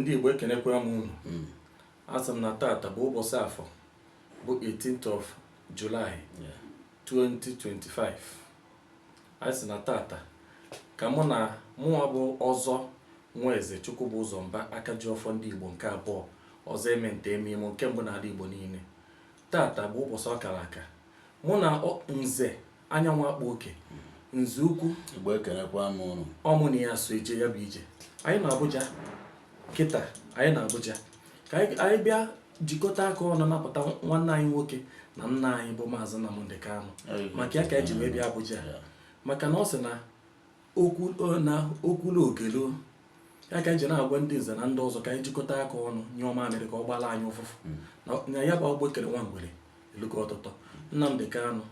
ndị Igbo ekenekwaa m unu hmm. a sị m na tata bụ ụbọsị afọ bụ 18th of July 2025 a sị na tata ka mụ na mụnwa bụ ọzọ Nweze Chukwubụzọ Mba aka ji ọfọ ndị Igbo nke abụọ ọzọ eme nta eme imo nke mbụ n'ala Igbo niile tata bụ ụbọsị ọ kara aka mụ na nze anyanwụ akpa oke nze ukwu Igbo ekenekwa m ụnụ ọ mụ na ya so eje ya bụ ije anyị na Abuja kịta anyị na Abuja ka anyị bịa jikọta aka ọnụ napụta nwanne anyị nwoke na nna anyị bụ maazị Nnamdi Kanu maka ya ka eji wee bịa Abuja maka na ọ sị na okwulu ogelu ya ka eji na-agwa ndị nze na ndị ọzọ ka anyị jikọta aka ọnụ nyụọ mamịrị ka ọ gbala anyị ụfụfụ hmm. na ya bụ agbụ e kere nwa ngwere elugo ọtụtọ Nnamdi Kanu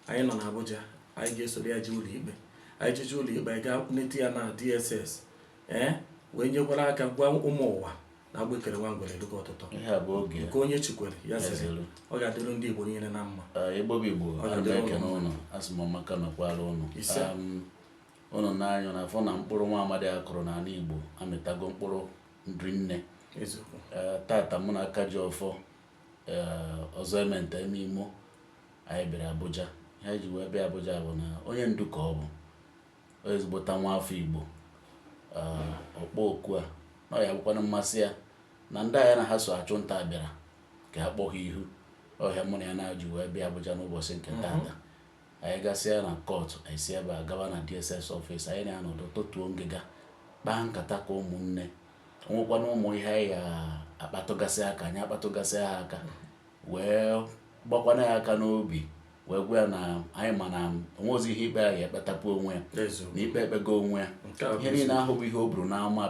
anyị nọ na Abuja anyị ga-esoro ya jee ụlọikpe anyị jeje ụlọikpe anyị gaa nete ya na DSS ee eh, wee nyekwara aka gwa ụmụ ụwa na agbụ e kere nwa ngwere eluka ọtụtọ nke onye chi kwere ya sịrị ọ ga-adịrụ ndị Igbo niile na mma Igbo bụ Igbo ekene ụnụ asị m maka mekwara ụnụ ụnụ n'anya na afọ na mkpụrụ nwa amadi a kụrụ n'ala Igbo amịtago mkpụrụ rinne tata mụ na aka ji ọfọ ọzọ eme nta eme imo Anyị bịara Abuja. Ihe anyị ji wee bịa Abuja bụ na onye ndu ka ọ bụ. Ọ ezigbote nwa afọ Igbo. Ee, ọ kpọọ oku a na ọ ya bụkwanụ mmasị ya na ndị a ya na ha so achụ nta a bịara ka ha kpọọ ha ihu. Ọ ihe a mụ na ya na-ji wee bịa Abuja n'ụbọchị nke tata. Anyị gasịa na kọtụ, anyị si ebe a gawa na DSS ọfịs. Anyị na-anọdụ tọtuo ngịga, kpaa nkata ka ụmụnne. O nwekwanụ ụmụ ihe anyị ga-akpatụgasị aka, anyị akpatụgasịa ha aka. wee gbakwana ya aka n'obi wee gwa ya na anyị ma na o nweghịzi ihe ikpe ya ga-ekpetapụ onwe ya na ikpe ekpego onwe ya ihe niile ahụ bụ ihe o buru n'ama